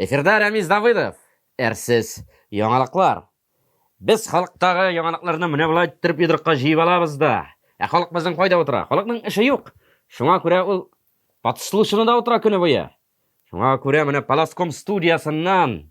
Эфирда Рәмиз Давыдов. Әрсез яңалыклар. Без халыктагы яңалыкларны менә болай иттереп йодрыкка җыеп алабыз да. Ә халык безнең кайда утыра? Халыкның эше юк. Шуңа күрә ул подслушанада утыра көне буе. Шуңа күрә менә Паласком студиясеннән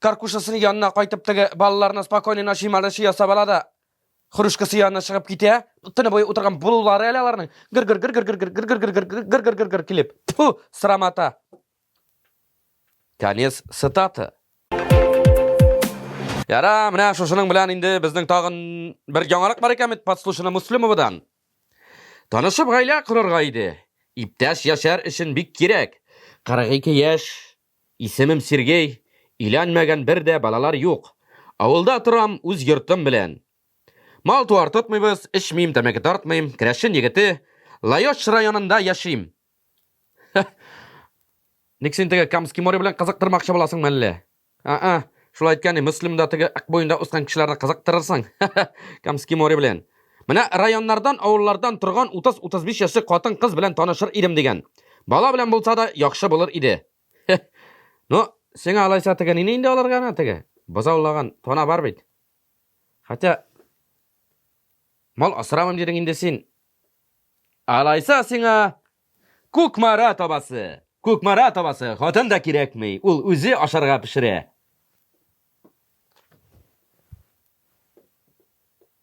Каркушасын янына кайтып теге балаларына спокойный ночи малыши ясап ала да, хрушкасы янына чыгып китә. Төне буе утырган булулары әле аларның гыр-гыр гыр-гыр гыр-гыр гыр-гыр гыр-гыр гыр-гыр гыр-гыр килеп. Тфу, срамата. Конец цитаты. Яра, менә шушының белән инде безнең тагын бер яңалык бар икән бит подслушано Муслимовадан. Танышып гаилә корырга иде. Иптәш яшәр өчен бик кирәк. 42 яшь Исемем Сергей, өйләнмәгән бер дә балалар юк. Авылда торам, үз йортым белән. Мал-туар тотмыйбыз, эчмим, тәмәке тартмыйм, керәшен егете, Лаеш районында яшим. Ха! Ник син теге Камский море белән кызыктырмакчы буласыңмы әллә? А-а, шулай әйткән ни, Мөслимдә теге Ак буенда ускан кешеләрне кызыктырырсың, ха-ха, Камский море белән. Менә районнардан, авыллардан торган 30-35 яшьлек хатын-кыз белән танышыр идем дигән. Бала белән булса да яхшы булыр иде. Ну, сиңа алайса теге нине инде алырга ана теге? Бозаулаган тона бар бит. Хотя мал асырамым дидең инде син. Алайса сиңа Күкмара табасы. Күкмара табасы. Хатын да кирәкми. Ул үзе ашарга пешерә.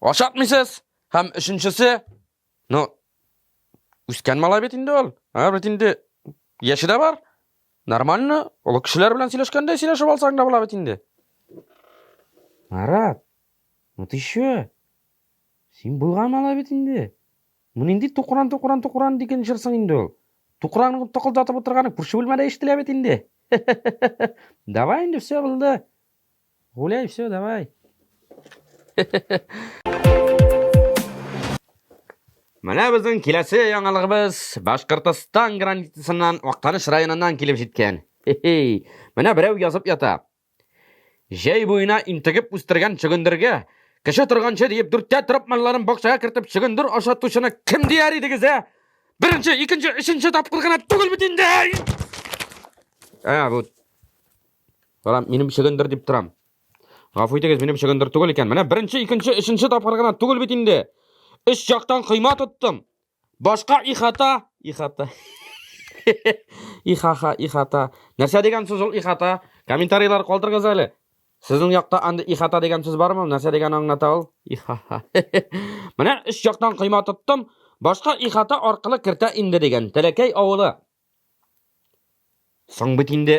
Ашатмыйсыз. Һәм өченчесе, ну, үскән малай бит инде ул. Ә бит инде яше дә бар. Нормально, олы кешеләр белән сөйләшкәндә сөйләшеп алсаң да була бит инде. Марат, ну ты чё? Син булган малай бит инде. Мин инде тукран, тукран, тукран диген җырсың инде ул. Тукраның токылдатып утырганы күрше бүлмәдә ишетелә бит инде. Давай инде все булды. Гуляй, все, давай. Менә безнең киләсе яңалыгыбыз Башкортостан границасыннан Актаныш районыннан килеп җиткән. Хе-хей. Менә берәү язып ята. Җәй буена интегеп үстергән чөгендергә кеше торганчы диеп дүрткә торып малларын бакчага кертеп чөгендер ашатучыны кем дияр идегез, ә? Беренче, икенче, өченче тапкыр гына түгел бит инде. Ә, бу Кара, минем чөгендер дип торам. Гафу итегез, минем чөгендер түгел икән. Менә беренче, икенче, өченче тапкыр гына түгел бит инде. Өч яктан койма тоттым. Башка ихата, ихата. ихаха, ихата. Нәрсә дигән сүз ул ихата? Комментарийлар калдырыгыз әле. Сезнең якта анда ихата дигән сүз бармы? Нәрсә дигән аңлата ул? Ихаха. Менә өч яктан койма тоттым. Башка ихата аркылы кертә инде дигән. Тәләкәй авылы. Соң бит инде,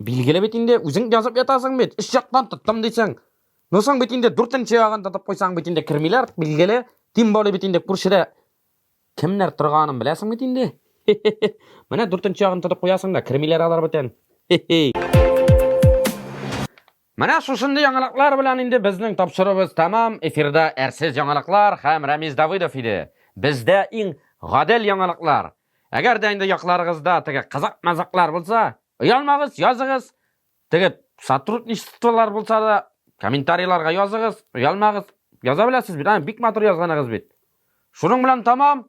билгеле бит инде, үзең язып ятасың бит, өч яктан тоттым дисең. Ну соң бит инде дүртенче ягын тотып куйсаң бит инде кермиләр, билгеле. Тем более бит инде күршедә кемнәр торганын беләсең бит инде. Менә дүртенче ягын тотып куясың да кермиләр алар бөтен. Менә шушындый яңалыклар белән инде безнең тапшыруыбыз тәмам, эфирда әрсез яңалыклар һәм Рәмиз Давыдов иде. Бездә иң гадел яңалыклар. Әгәр дә инде якларыгызда теге кызык-мазыклар булса, оялмагыз, языгыз. Теге сотрудничестволар булса да, комментарийларга языгыз, оялмагыз. Яза беләсез бит, аны бик матур язганыгыз бит. Шуның белән тәмам,